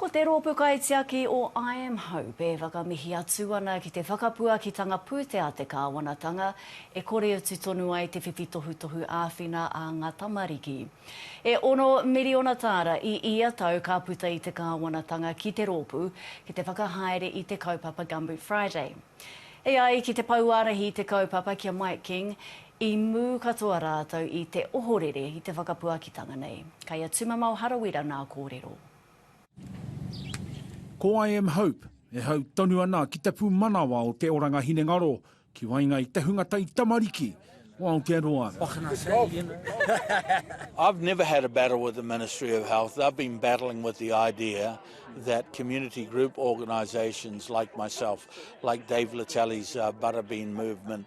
Ko te rōpū kaitiaki o I Am Hope e whakamihi atu ana ki te whakapuakitanga pūtea te kāwanatanga e kore atu tonu ai te whiwhi tohutohu āwhina a ngā tamariki. E ono miriona tāra i ia tau ka puta i te kāwanatanga ki te rōpū ki te whakahaere i te kaupapa Gumboot Friday. E ai ki te Pouārahi i te kaupapa ki a Mike King, i mū katoa rātou i te ohorere i te whakapuakitanga nei. Kei a Tumamao Harawira nā kōrero. Ko I am Hope e hau tonu ana ki te pūmanawa o te oranga hinengaro ki waenga i te hunga tai tamariki o Aotearoa. What can I say, you know? I've never had a battle with the Ministry of Health. They've been battling with the idea that community group organisations like myself, like Dave Latelli's uh, Butterbean Movement,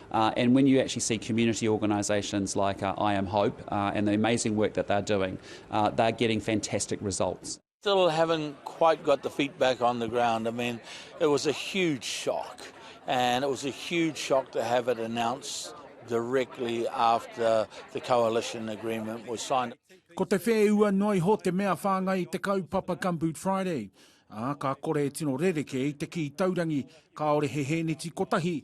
And when you actually see community organisations like I Am Hope and the amazing work that they're doing, they're getting fantastic results. Still haven't quite got the feet back on the ground. I mean, it was a huge shock, and it was a huge shock to have it announced directly after the coalition agreement was signed. Ko te whēua noa iho te mea whāngai i te kaupapa Gumboot Friday, ā, ka kore e tino rerekē i te kī taurangi kāore he hēneti kotahi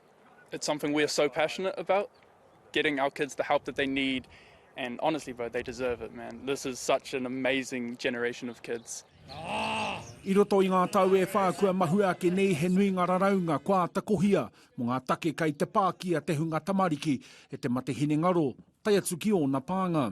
It's something we are so passionate about, getting our kids the help that they need and honestly bro, they deserve it man, this is such an amazing generation of kids. I roto i ngā tau e whā kua mahue ake nei he nui ngā raraunga kua āta kohia mō ngā take kei te pākia te hunga tamariki e te mate hinengaro, tae atu ki ōna pānga.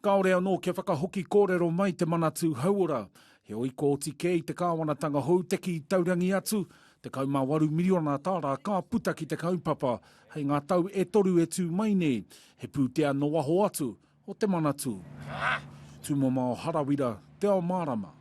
Kāore anō kia whakahoki kōrero mai te Manatū Hauora, heoi kua oti kē i te kāwanatanga hou te kī taurangi atu, 18 miriona tāra ka puta ki te kaupapa hei ngā tau e toru e tū mai nei, he pūtea nō waho atu o te Manatū. Tūmomao Harawira, Te Ao Mārama.